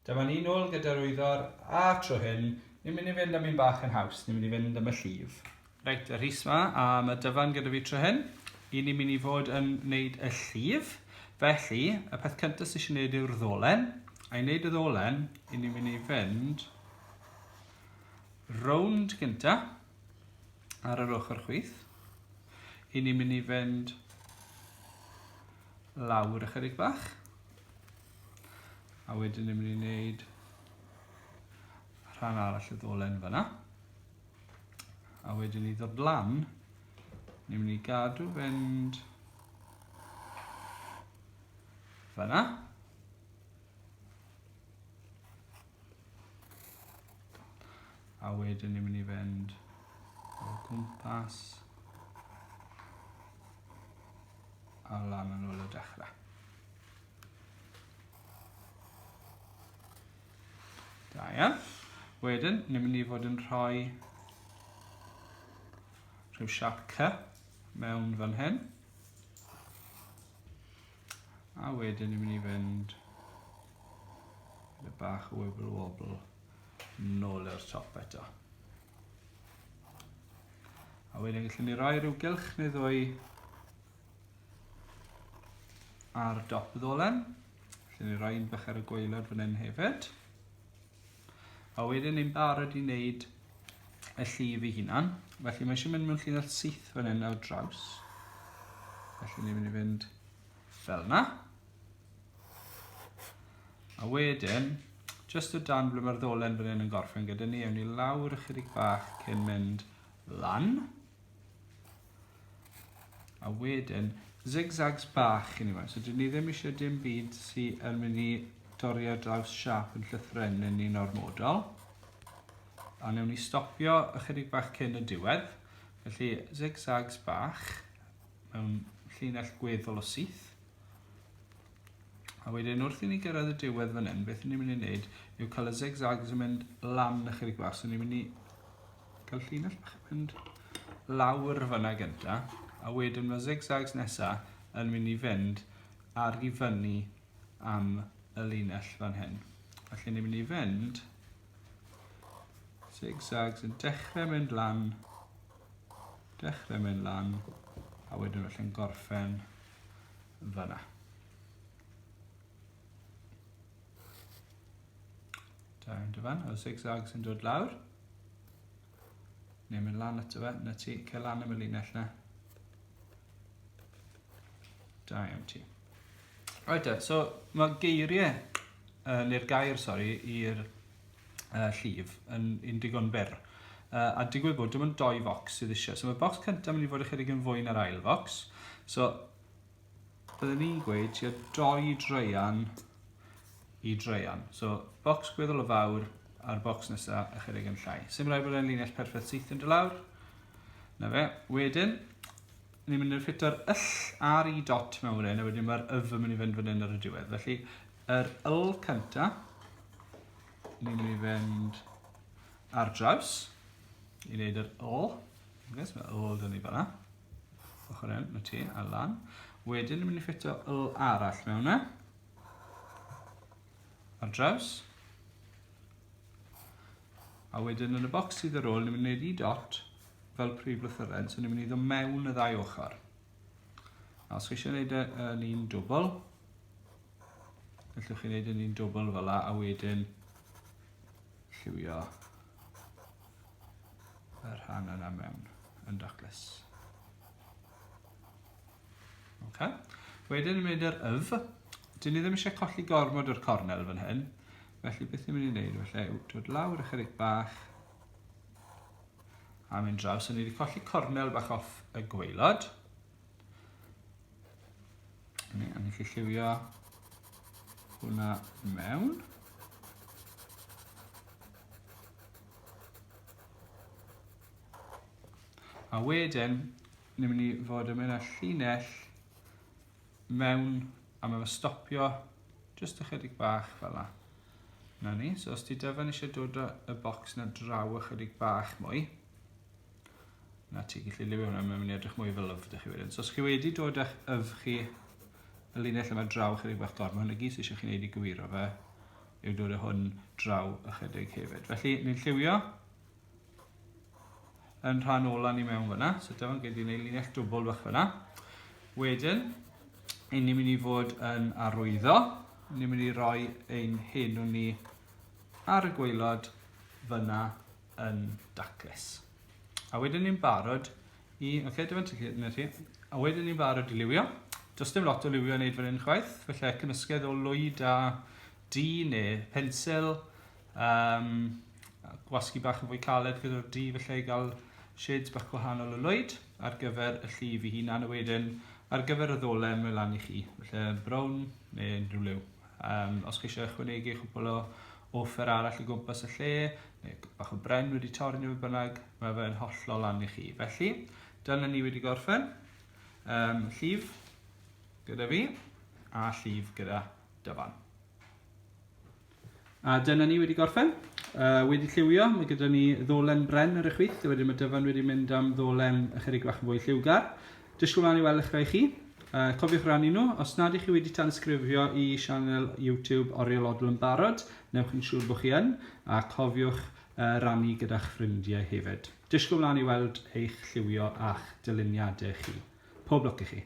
Dyma ni nôl gyda'r wyddor, a tro hyn, ni'n mynd i fynd am un bach yn haws, ni'n mynd i fynd am y llif. Reit, y rhys ma, a mae dyfan gyda fi tro hyn. I ni'n mynd i fod yn wneud y llif. Felly, y peth cyntaf sy'n eisiau gwneud yw'r ddolen. A i wneud y ddolen, i ni'n mynd i fynd rownd gyntaf ar yr ochr chwith. I ni'n mynd i fynd lawr ychydig bach. A wedyn ni'n mynd i wneud rhan arall y ddolen fyna. A wedyn ni ddod lan, ni'n mynd i gadw fynd fyna. A wedyn ni'n mynd i fynd o gwmpas A la ma' nôl y dechre. Da iawn. Wedyn, ni'n mynd i fod yn rhoi rhyw siap cy mewn fan hyn. A wedyn ni'n mynd i fynd gyda bach o wibble wobble nôl i'r top eto. A wedyn gallwn ni roi rhyw gylch neu ddwy ar dop y ddolen. Gallwn ni roi un bach ar y gwaelod fan hyn hefyd. A wedyn ni'n barod i wneud y llif ei hunan. Felly mae eisiau mynd mewn llinell syth fan hyn ar draws. Felly ni'n mynd i fynd fel yna. A wedyn, jyst o dan ble mae'r ddolen fan hyn yn gorffen gyda ni, ewn ni lawr ychydig bach cyn mynd lan. A wedyn, zigzags bach i ni fan. So dyn ni ddim eisiau dim byd sy'n yn mynd i dorri ar draws siap yn llythrenyn ni'n ormodol. A newn ni stopio ychydig bach cyn y diwedd. Felly, zigzags bach mewn llinell gweddol o syth. A wedyn wrth i ni gyrraedd y diwedd fan hyn, beth ni'n mynd i wneud yw cael y zigzags yn mynd lan na chydig bach. So ni'n mynd i cael llinell bach yn mynd lawr fyna gynta. A wedyn mae zigzags nesa yn mynd i fynd ar i fyny am y linell fan hyn. Felly ni'n mynd i fynd zigzags yn dechrau mynd lan, dechrau mynd lan, a wedyn felly'n gorffen fanna. Da yn dyfan, o zigzag sy'n dod lawr. Neu mynd lan eto fe, na ti, cael lan am y linell na. Da iawn ti. Right, so mae geiriau, uh, neu'r gair, sori, i'r uh, llif yn, yn digon byr. Uh, a digwydd bod dim ond doi fox sydd eisiau. So mae box cyntaf mynd i fod ychydig yn fwy na'r ail fox. So byddwn ni'n gweud tua doi dreian i dreian. So box gweddol o fawr a'r box nesaf ychydig yn llai. Sym rhaid bod e'n linell perffaith syth yn dy lawr. Na fe. Wedyn, ni'n mynd i'r ffito'r yll ar i dot mewn wedyn, a wedyn mae'r yf yn mynd i fynd fan hyn ar y diwedd. Felly, Yr wl cynta, ni'n mynd i fynd ar draws i wneud yr wl. Gwnes, mae wl dyn ni fanna. Ochr hyn, mae ti, a lan. Wedyn, ni'n mynd i ffitio wl arall mewn yna. E. Ar draws. A wedyn, yn y bocs sydd ar ôl, ni'n mynd i wneud i dot fel prif lythyren, so ni'n mynd i ddod mewn y ddau ochr. A os chi eisiau gwneud e yn un dwbl, Gallwch chi wneud hynny'n dwbl fel la a wedyn lliwio y rhan yna mewn yn daclus. Okay. Wedyn yn mynd i'r yf, dyn ni ddim eisiau colli gormod o'r cornel fan hyn, felly beth ni'n mynd i wneud felly yw dod lawr ychydig bach a mynd draw. So ni wedi colli cornel bach off y gweilod. Ni, a ni eisiau lliwio hwnna mewn. A wedyn, ni'n mynd i fod yn mynd â llinell mewn a mae'n stopio jyst ychydig bach fel yna. Na ni, so os ti dyfan eisiau dod y bocs na draw ychydig bach mwy, Na ti, gallu lliwio hwnna, mae'n mynd i edrych mwy fel yf ydych chi wedyn. So os chi wedi dod â'ch yf chi, y linell yma draw chydig bach gormod, hwn y gys eisiau chi'n neud i gywiro fe, yw dod â hwn draw ychydig hefyd. Felly, ni'n lliwio yn rhan ola ni mewn fyna, so dyma'n gyd i'n ei linell dwbl bach fyna. Wedyn, ein ni'n mynd i fod yn arwyddo, ni'n mynd i roi ein henw ni ar y gweilod fyna yn daclus. A wedyn ni'n barod i... Oce, okay, dyma'n ticid yn chi. A wedyn ni'n barod i liwio. Does dim lot o liwio yn neud fan hyn chwaith, felly cymysgedd o lwyd a di neu pensil, um, gwasgu bach yn fwy caled gyda'r di, felly gael shades bach gwahanol o lwyd ar gyfer y llif i hunan a wedyn ar gyfer y ddolen mae lan i chi. Felly brown neu unrhyw liw. Um, os geisio ychwanegu chwbl o offer arall o gwmpas y lle, neu bach o bren wedi torri neu beth bynnag, mae fe'n hollol lan i chi. Felly, dyna ni wedi gorffen. Um, llif gyda fi, a llif gyda dyfan. A dyna ni wedi gorffen. Uh, wedi lliwio, mae gyda ni ddolen bren ar y chwith, wedyn mae dyfan wedi mynd am ddolen ychydig bach yn fwy lliwgar. Disgwyl mlaen i weld eich rhai chi. Uh, cofiwch rannu nhw. Os nad ych chi wedi tansgrifio i sianel YouTube Oriel Odl yn barod, newch yn siŵr bod chi yn, a cofiwch uh, rannu gyda'ch ffrindiau hefyd. Disgwyl mlaen i weld eich lliwio a'ch dyluniadau chi. Pob lwc i chi.